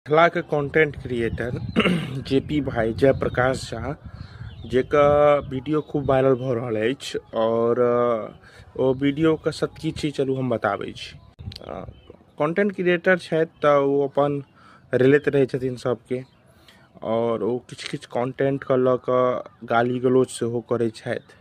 मिथिलाके content creator J P भाई जयप्रकाश झा जेकर वीडियो खूब वायरल भऽ रहल अछि आओर ओ वीडियोके सत्य छी चलू हम बताबै छी कॉन्टेंट क्रिएटर छथि तऽ ओ अपन रिलेट रहै छथिन सभके आओर ओ किछु किछु कॉन्टेंटके लऽ कऽ गाली गलौज सेहो करै छथि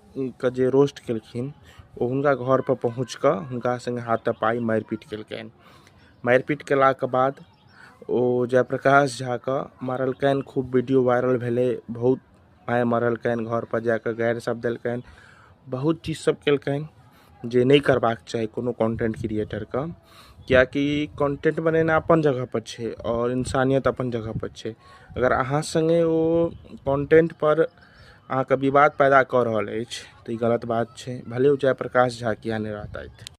के जे रोस्ट केलखिन ओ हुनका घर पर पहुँच कऽ हुनका सङ्गे हाथा पाइ मारि पीट केलकनि मारि पीट केलाके बाद ओ जय प्रकाश झा के मारलकनि खूब वीडियो वायरल भेलै बहुत मारि मारलकनि घर पर जाकऽ गारि सभ देलकनि बहुत चीज सभ केलकनि जे नहि करबाक चाही कोनो कन्टेन्ट क्रिएटरके किएकि कन्टेन्ट बनेनाइ अपन जगहपर छै आओर इन्सानियत अपन जगहपर छै अगर अहाँ सङ्गे ओ कन्टेन्टपर अहाँके विवाद पैदा कऽ रहल अछि तऽ ई गलत बात छै भले ओ जयप्रकाश झा किए नहि रहतथि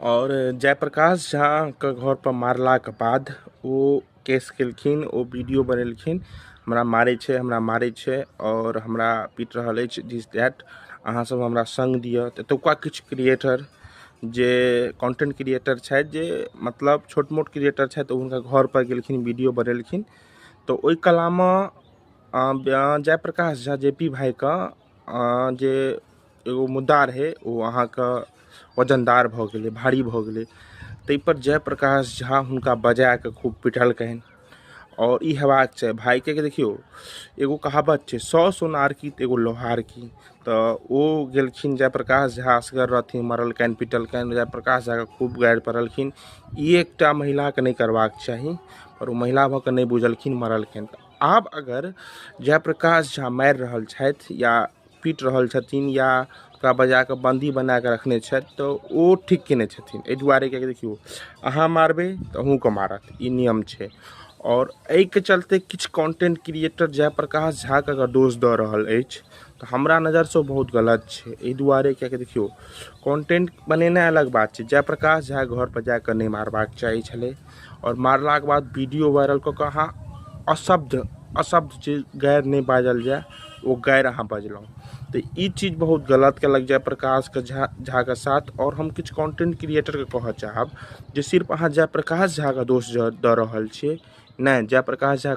आओर जयप्रकाश झाके घरपर मारलाके बाद ओ केस केलखिन ओ वीडियो बनेलखिन हमरा मारै छै हमरा मारै छै आओर हमरा पीट रहल अछि दिस दैट अहाँसभ हमरा सङ्ग दिअ तऽ एतुका किछु क्रिएटर जे कॉन्टेंट क्रिएटर छथि जे मतलब छोट मोट क्रिएटर छथि ओ हुनका घरपर गेलखिन वीडियो बनेलखिन तऽ ओहि कलामे जयप्रकाश झा जे पी भाइके जे एगो मुद्दा रहै ओ अहाँके वजनदार भऽ गेलै भारी भऽ गेलै ताहिपर जयप्रकाश झा हुनका बजाय कऽ खूब पिटलकनि आओर ई हेबाक चाही भायके देखियौ एगो कहावत छै सौ सोनार की तऽ एगो लोहार की तऽ ओ गेलखिन जयप्रकाश झा असगर रहथिन मरलकनि पिटलकनि जयप्रकाश झाके खूब गारि पड़लखिन ई एकटा महिलाके नहि करबाक चाही आओर ओ महिला भऽ कऽ नहि बुझलखिन मरलखिन आब अगर जयप्रकाश झा मारि रहल छथि या पीट रहल छथिन या ओकरा बजा कऽ बन्दी बना कऽ रखने छथि तऽ ओ ठीक कयने छथिन एहि दुआरे किएकि देखियौ अहाँ मारबै तऽ अहूँके मारत ई नियम छै आओर एहिके चलते किछु कन्टेन्ट क्रिएटर जय प्रकाश झाके अगर दोष दऽ रहल अछि तऽ हमरा नजरसँ ओ बहुत गलत छै एहि दुआरे किएकि देखियौ कन्टेन्ट बनेनाइ अलग बात छै जय प्रकाश झा घरपर जा कऽ नहि मारबाक चाही छलै आओर मारलाके बाद वीडियो वायरल कऽ कऽ अहाँ अशब्द अशब्द जे गारि नहि बाजल जाय ओ गारि अहाँ बजलहुँ तऽ ई चीज बहुत गलत कयलक जय प्रकाश के झा झाके साथ आओर हम किछु कॉन्टेन्ट क्रिएटरके कहऽ चाहब जे सिर्फ अहाँ जय प्रकाश झाके दोष दऽ रहल छियै नहि जय प्रकाश झाके